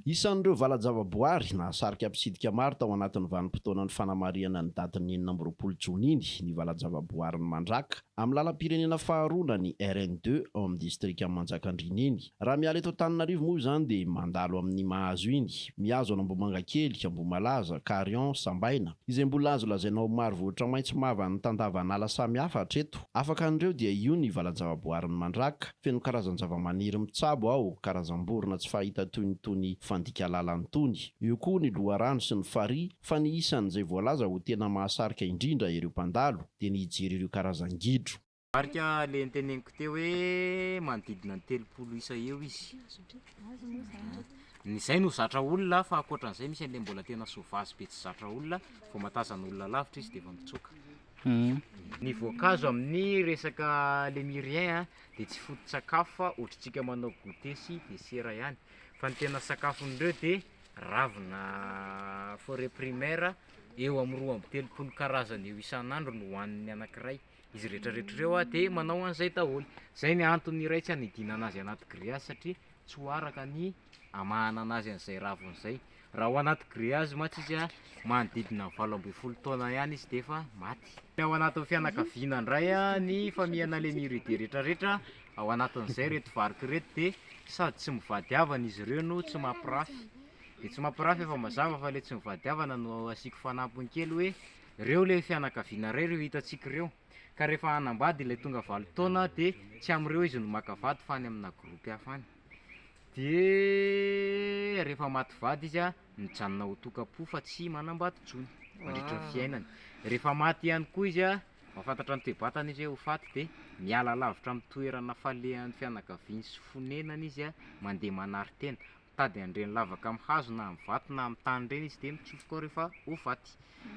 Isan'ireo valan-javaboary nahasarika mpitsidika maro tao anatin'ny vanim-potoanan'ny fanamarihana ny datin'ny enina amby roapolo jona iny ny valan-javaboarin'i Mandraka amin'ny lalam-pirenena faharoa na ny RN deux ao amin'ny distrikan'i Manjakandriana iny. Raha miala eto Antananarivo moa izany dia mandalo amin'ny mahazo iny, mihazo an'Ambohimangakely, Ambohimalaza, Carion, Sambaina, izay mbola azo lazaina ho maro vohitra maitso mavan'ny tandavan'ala samihafa hatreto. Afaka an'ireo dia io ny valan-javaboarin'ny Mandraka, feno karazan-javamaniry mitsabo ao, karazam-borona tsy fahita toy ny tony fandika lalany tony. Eo koa ny loharano sy ny farihy, fa ny isan'izay voalaza ho tena mahasarika indrindra ireo mpandalo dia ny hijery ireo karazan-gidro. Marika ilay noteneniko teo hoe manodidina ny telopolo isa eo izy. Ny izay no zatra olona fa ankoatran'izay misy an'ilay mbola tena sauvage be tsy zatra olona, vao mahatazana olona lavitra izy dia efa mitsoaka. Ny voankazo amin'ny resaka lemurien a dia tsy foto-tsakafo fa ohatrantsika manao goûter sy dessert ihany fa ny tena sakafon'ireo dia ravina forêt primaire eo amin'ny roa amby telopolo karazany eo isan'andro no hohanin'ny anankiray, izy rehetrarehetra ireo dia manao an'izay daholo, izay ny antony iray tsy hanidinana azy anaty grillage satria tsy ho araka ny hamahana anazy an'izay raviny izay. Raha ao anaty grillage mantsy izy, manodidina ny valo ambin'ny folo taona ihany izy dia efa maty. Ny ao anatin'ny fianakaviana indray, ny famihana ilay myride rehetra rehetra ao anatin'izay ireto varika ireto dia sady tsy mivady havana izy ireo no tsy mampirafy. Ny tsy mampirafy efa mazava fa ilay tsy mivady havana no asiako fanampiny kely hoe ireo ilay fianakaviana iray ireo hitantsika ireo. Ka rehefa hanambady ilay tonga valo taona dia tsy amin'ireo izy no maka vady fa any amina groupe hafa any. Dia rehefa maty vady izy a, mijanona ho tokam-po fa tsy manambady intsony mandritra ny fiainany. Rehefa maty ihany koa izy a, mahafantatra ny toe-batany izy hoe ho faty dia miala lavitra amin'ny toerana falehan'ny fianakaviany sy fonenany izy a, mandeha manari-tena. Mitady an'ireny lavaka amin'ny hazo na amin'ny vato na amin'ny tany ireny izy dia mitsofoka ao rehefa ho faty.